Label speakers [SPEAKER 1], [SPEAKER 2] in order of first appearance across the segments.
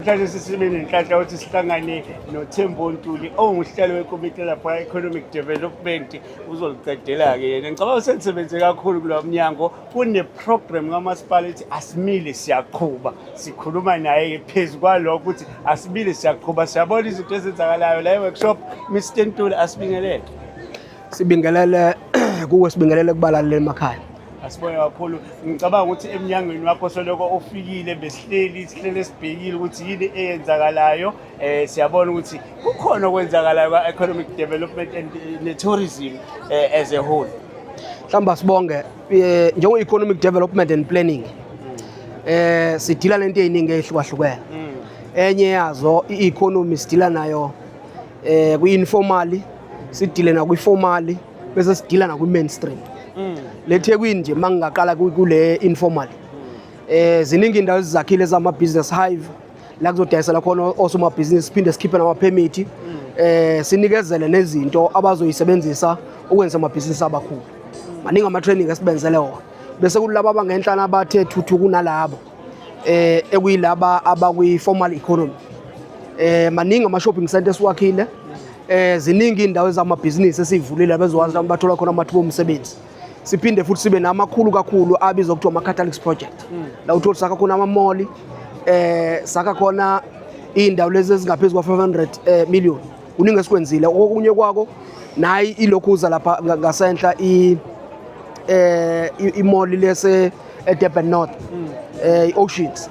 [SPEAKER 1] Mhlawumbe sisime nenhlanhla ukuthi sihlangane noThembo Ntuli onguhlelo wekomiti lapha Economic Development uzoliqedela-ke yena ngicabanga uselisebenzise kakhulu kulo mnyango kuneprogramu kamasipala ethi asimile siyaqhuba sikhuluma naye phezu kwalokho ukuthi asimile siyaqhuba siyabona izinto ezenzakalayo la e-workshop mr ntuli asibingelele sibingelele
[SPEAKER 2] kuwe sibingelele kubalaleli emakhaya asibonge kakhulu
[SPEAKER 1] ngicabanga ukuthi emnyangweni wakho soloko ufikile besihleli sihlele sibhekile ukuthi yini eyenzakalayo eh siyabona ukuthi kukhona okwenzakalayo kwa economic development and eh, ne tourism eh, as a whole mhlawumbe sibonge
[SPEAKER 2] eh, njengo economic development and planning eh sidila nento eziningi ehlukahlukene mm. enye yazo i-economy sidila nayo eh kwi-informally sidile nakwi-formally bese sidila nakwi-mainstream mm. le thekwini nje uma ngingaqala kule informally um eh, ziningi indawo ezizakhile zama-business hive la kuzodayisela khona osomabhizinisi siphinde sikhiphe namaphemithi eh sinikezele nezinto abazoyisebenzisa ukwenza amabhizinisi abakhulu maningi ama-training esibenzele wona bese kulaba abangenhlana abathe thuthu kunalabo eh ekuyilaba abakwi-formal economy eh maningi ama-shopping center esiwakhile eh ziningi indawo ezamabhizinisi esivulile bezokwazi bathola khona amathuba omsebenzi siphinde futhi sibe namakhulu kakhulu abizwa kuthiwa ama-catalics project hmm. la utholi sakha khona amamoli eh sakha khona iy'ndawo lezi ezingaphezu kwa-500 eh, million kuningi esikwenzile okunye kwako nayi ilokhu uza lapha ngasenhla eh, imoli lese edurban north um hmm. eh, i-oceans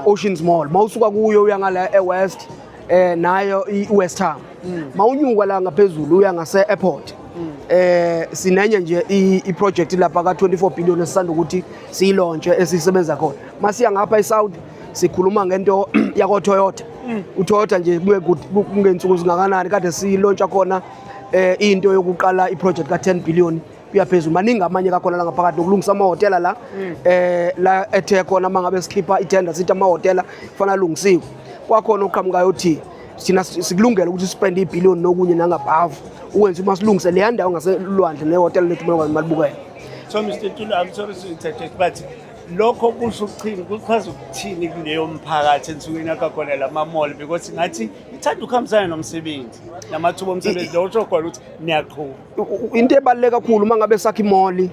[SPEAKER 2] oceans mall mawusuka kuyo uya ngala ewest eh nayo iWest Ham mm. mawunyuka la ngaphezulu uya ngase airport mm. eh sinenye nje iproject lapha ka 24 billion esisanda ukuthi siyilontshe esisebenza khona masiya ngapha eSaudi sikhuluma ngento yako Toyota mm. uToyota nje kuye kungensuku zingakanani kade siyilontsha khona eh into yokuqala iproject ka 10 billion kuyaphezulu maningi amanye kakhona la ngaphakathi nokulungisa amahhotela la mm. eh la ethe khona uma ngabe sikhipha itender sithi amahhotela kufanele alungisiwe kwakhona oqhamukayo othi sina sikulungela ukuthi spend ibillion nokunye nangabhavu ukwenza uma silungise leya ndawo ngaselwandle nehhotela lethu uma ngwazi malibukela so Mr
[SPEAKER 1] Tulu I'm sorry to interject but lokho kusho ukuthini kuchaza ukuthini kuleyo mphakathi ensukwini yakho khona la mamall because ngathi ithanda ukuhambisana nomsebenzi namathuba omsebenzi lo usho khona ukuthi niyaqhuba Into ebaluleke
[SPEAKER 2] kakhulu uma ngabe sakha imoli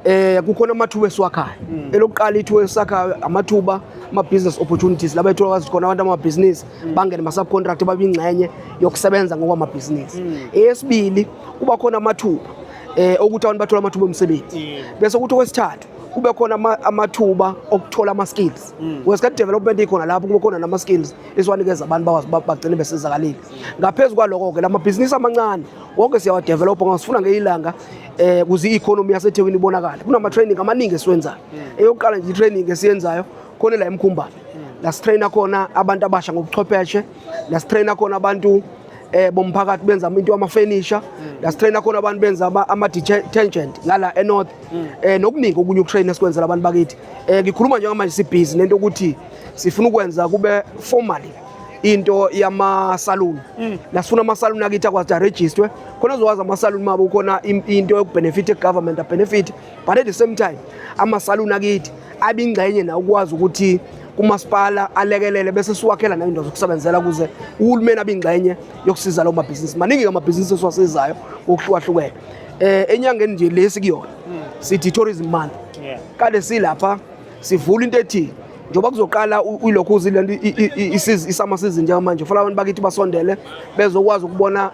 [SPEAKER 2] eh kukhona amathuba esiwakhayo mm. elokuqala ithuba esakhayo amathuba ama business opportunities laba ethola khona abantu ama business mm. bangene ma subcontract babingxenye yokusebenza ngokwama business mm. eyesibili kuba khona amathuba eh ukuthi abantu bathola amathuba omsebenzi bese ukuthi okwesithathu kube khona amathuba okuthola ama-skills mm. wesikhathi development ikhona lapho kube khona nama-skills esiwanikeza abantu bagcine besizakalile ngaphezu kwaloko-ke la mabhizinisi amancane konke siyawadevelopha ngasifuna ngeyilanga eh kuze i-economy yasethekwini ibonakale kunama-training amaningi esiwenzayo hmm. eyokuqala nje i-training esiyenzayo khona la emkhumbane hmm. la sitraina khona abantu abasha ngobuchwepheshe la sitraina khona abantu eh bomphakathi benza into amafurniture hmm. la sitraina khona abantu benza ama-detergent ngala enorth eh nokuningi okunye ukutraina sikwenzela abantu bakithi eh ngikhuluma njengamanje sibhizi nento ukuthi sifuna ukwenza kube formally into yamasaluni mm. nasifuna amasaluni akithi akwazi arejistwe khona uzokwazi amasaluni mabo khona into yokubenefit egovernment abenefit but at the same time amasaluni akithi abingxenye na ukwazi ukuthi kumasipala alekelele bese siwakhela nayindawo zokusebenzela ukuze uhulumeni abingxenye yokusiza lawo mabhizinisi maningi-ke amabhizinisi esiwasizayo ngokuhlukahlukene um enyangeni nje lesi kuyona mm. sithi tourism month kade silapha sivula into ethi njengoba kuzoqala ilokhu uzile nto isama season njengamanje fanele abantu bakithi basondele bezokwazi ukubona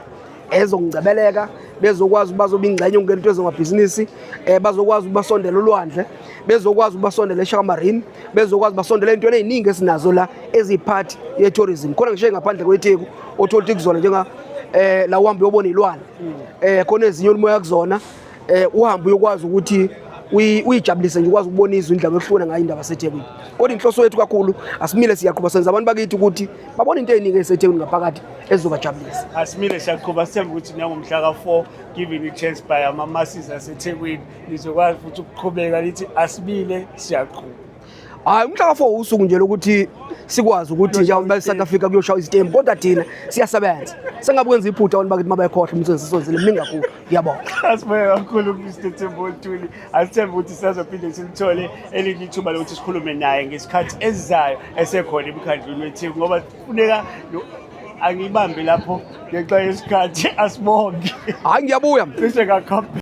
[SPEAKER 2] ezokungcebeleka bezokwazi bazoba ingxenye ukungena into ezongamabhizinisi um eh, bazokwazi ukubasondela ulwandle bezokwazi ukubasondela eshakamarine bezokwazi basondela ey'ntweni ey'ningi esinazo la eziyiphathi ye-tourism khona ngisho engaphandle kwetheku othola ukuthi kuzona njenga um la uhambe uyobona iy'lwane um khona ezinye olimoya kuzona eh uhambe uyokwazi ukuthi uyijabulise nje ukwazi ukubona izwi indlela ohlukene ngayo indaba seThekwini kodwa inhloso yethu kakhulu asimile siyaqhuba senza abantu bakithi ukuthi babone into eningi eseThekwini ngaphakathi ezobajabulisa asimile siyaqhuba
[SPEAKER 1] sithemba ukuthi nangomhla ka-4 given i-chance by ama-masses aseThekwini lizokwazi futhi ukuqhubeka lithi asimile siyaqhuba hayi
[SPEAKER 2] umhla ka-four usuku nje lokuthi sikwazi ukuthi njengoba e-south africa kuyoshaywa izitembu kodwa thina siyasebenza sengabe kwenza iphutha abantu bakithi mabekhohlwa umsebenzi sisozile mningi kakhulu ngiyabonga asibonge kakhulu
[SPEAKER 1] mr tembo ntuli asithembe ukuthi sisazophinde simthole elinye ithuba lokuthi sikhulume naye ngesikhathi esizayo esekhona emkhandlwini wetheku ngoba kufuneka angiyibambe lapho
[SPEAKER 2] ngenxa
[SPEAKER 1] yesikhathi asibonge hayi
[SPEAKER 2] ngiyabuya
[SPEAKER 1] cishe kakhulu